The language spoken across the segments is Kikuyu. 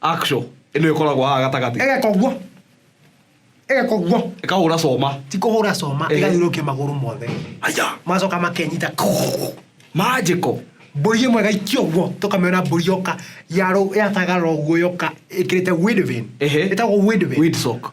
Axle ĩno ĩkoragwo haha gatagatĩ ĩgeka ũguo ĩgeka ũguo ĩkahũra coma ti kũhũra coma Ehe. ĩgathiũrũkia magũrũ mothe aya macoka makenyita manjĩko mbũri ĩmwe ĩgaikia ũguo tũkamĩona mbũri yoka yarũ- yatagarara ũguo yoka ĩkĩrĩte windvin Ehe. ĩtagwo windvin Windsock.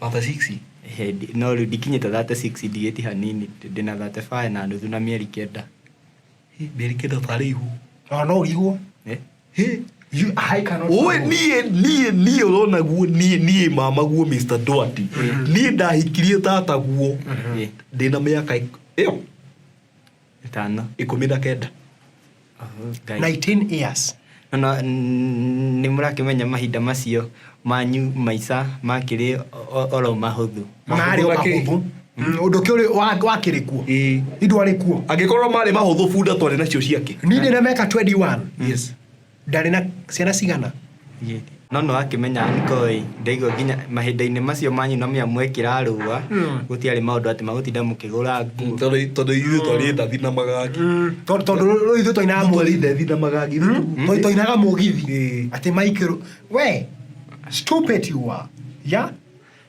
Thate ciksi? Ehe, ndi- no rĩu ndikinyĩte thate ciksi ndigĩti hanini ndĩna thate baya na nuthu na mĩeri kenda Mĩeri kenda ũtarĩ ihu. No no ũrigwo. Eh? Hĩ. You I cannot. Oe niĩ niĩ niĩ ũrona guo niĩ niĩ mama guo Mr. Doherty. Niĩ ndahikirie tata guo. Eh. Ndĩna mĩaka ik- ĩyo. Ĩtano. Ikũmi na kenda. Oh, Ngai. 19 years No, no, n- nĩ mũrakĩmenya mahinda macio manyu maica makĩrĩ o- o- oro mahũthũ marĩ o makĩrĩ- mahũthũ Mm, ũndũ ũkĩ ũrĩ- wa- wakĩrĩ kuo Ĩĩ. indwarĩ kuo angĩkorwo marĩ mahũthũ bunda twarĩ nacio ciake nini na meka 21 yes Ndarĩ na ciana cigana? No no akĩmenya Ankoi ndaigua nginya mahinda-inĩ macio manyu na mĩamwekĩra rũa hmm. gũtiarĩ maũndũ atĩ magũtinda mũkĩgũra nguo tondũ ithuĩ twarĩ ndathi na magagi hmm. tondũ rĩu ithuĩ twainaga mũgithi ndathi na magagi hmm. tondũ twainaga mũgithi atĩ maikĩrũ we stupid you are yeah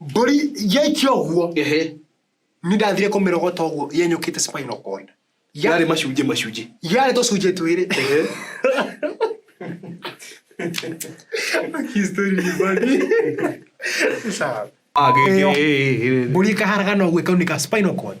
mbũri yaikia ũguo ehe nĩ ndathire kũmĩrogota ũguo yenyũkĩte spinal cord Ya- yarĩ macunjĩ macunjĩ yarĩ tũcunjĩ twĩrĩ ehe Sawa. agĩgĩ mbũri ĩkaharagana ũguo ĩkaunĩka spinal cord